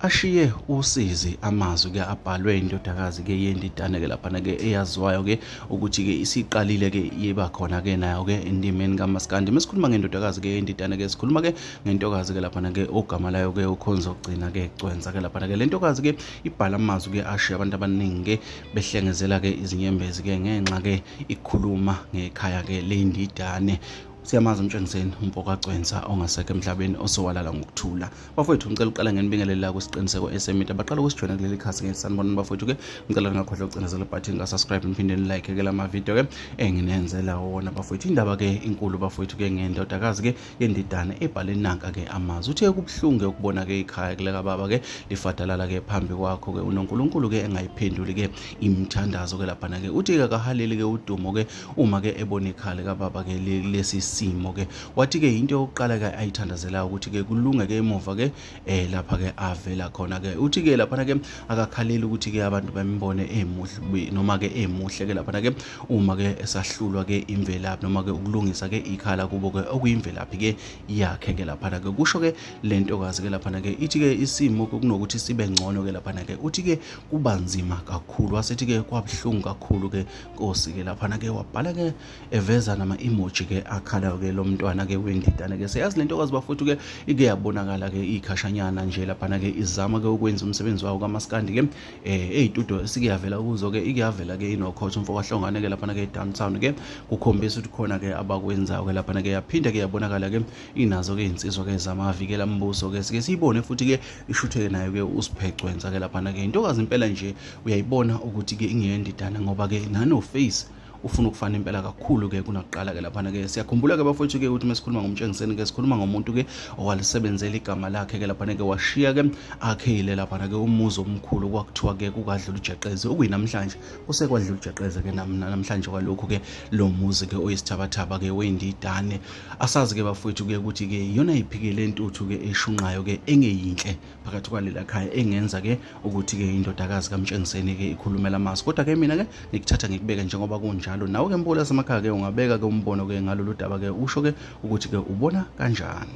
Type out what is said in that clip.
ashiye usizi amazwi ke abhalwe indodakazi ke yendidane ke laphana ke eyaziwayo ke ukuthi ke isiqalile ke iba khona ke nayo ke endimeni kamaskandi mesikhuluma ngendodakazi ke yendidane ke sikhuluma ke ngentokazi ke laphana ke ogama layo ke ukhonza ukugcina ke cwenza ke laphana ke lentokazi ke ibhala amazwi ke ashiye abantu abaningi ke behlengezela ke izinyembezi ke ngenxa ke ikhuluma ngekhaya ke lendidane siyamazi umtshengiseni umpokacwensa ongasekho emhlabeni osowalala ngokuthula bafowethu ngicela uqala ngenibingelela kwisiqiniseko esemita baqala ukusijoyina kuleli khasi ngeke sanibonani bafowethu-ke ngicela ningakhohlwa ukucindezela ibhathini ka-subscribe niphinde nilike ke la mavidiyo-ke enginenzela wona bafowethu indaba-ke inkulu bafowethu-ke ngendodakazi-ke yendidane ebhale nanka-ke amazwi uthe kubuhlungu-ke ukubona-ke ikhaya kulekababa-ke lifadalala-ke phambi kwakho-ke unonkulunkulu-ke engayiphenduli-ke imithandazo-ke laphana-ke uthi-ke kahaleli-ke udumo-ke uma ke ebona ikhala likababa ke lesi simo ke wathi ke into yokuqala ke ayithandazelayo ukuthi ke kulunge ke emuva ke eh lapha ke avela khona ke uthi ke lapha ke akakhaleli ukuthi ke abantu bambone emuhle noma ke emuhle ke lapha ke uma ke esahlulwa ke imvelaphi noma ke ukulungisa ke ikhala kubo ke okuyimvelaphi ke yakhe ke lapha ke kusho ke lento kazi ke lapha ke ithi ke isimo kunokuthi sibe ngcono ke lapha ke uthi ke kubanzima kakhulu wasethi ke kwabuhlungu kakhulu ke Nkosi ke lapha nake wabhala ke eveza nama emoji ke akhala ke lo mntwana ke wendidana ke seyazi lento kwazi bafuthu ke ike yabonakala ke ikhashanyana nje lapha nake izama ke ukwenza umsebenzi wawo kamaskandi ke eh ezitudio esike yavela kuzo ke ike yavela ke inokhotha umfo kwahlongane ke lapha nake downtown ke kukhombisa ukuthi khona ke abakwenzayo ke lapha nake yaphinda ke yabonakala ke inazo ke insizwa ke zamavikela mbuso ke sike siyibone futhi ke ishutheke nayo ke usiphecwenza ke lapha nake intokazi impela nje uyayibona ukuthi ke ingeyendidana ngoba ke ngano face ufuna ukufana impela kakhulu ke kunakuqala ke laphana ke siyakhumbula ke bafowethu ke ukuthi mesikhuluma ngomtshengiseni ke sikhuluma ngomuntu ke owalisebenzela igama lakhe ke laphana ke washiya ke akhile laphana ke umuzi omkhulu kwakuthiwa ke kukadlula ujeqeze okuyinamhlanje usekwadlula ujeqeze ke namhlanje kwalokhu ke lo muzi ke oyisithabathaba ke wendidane asazi ke bafowethu ke ukuthi ke yona iphike lentuthu ke eshunqayo ke engeyinhle phakathi kwalela khaya engenza ke ukuthi ke indodakazi kamtshengiseni ke ikhulumela amasi kodwa ke mina ke ngikuthatha ngikubeke njengoba kunjalo nawe ke mbola samakhaya ke ungabeka ke umbono ke ngalolu daba ke usho ke ukuthi ke ubona kanjani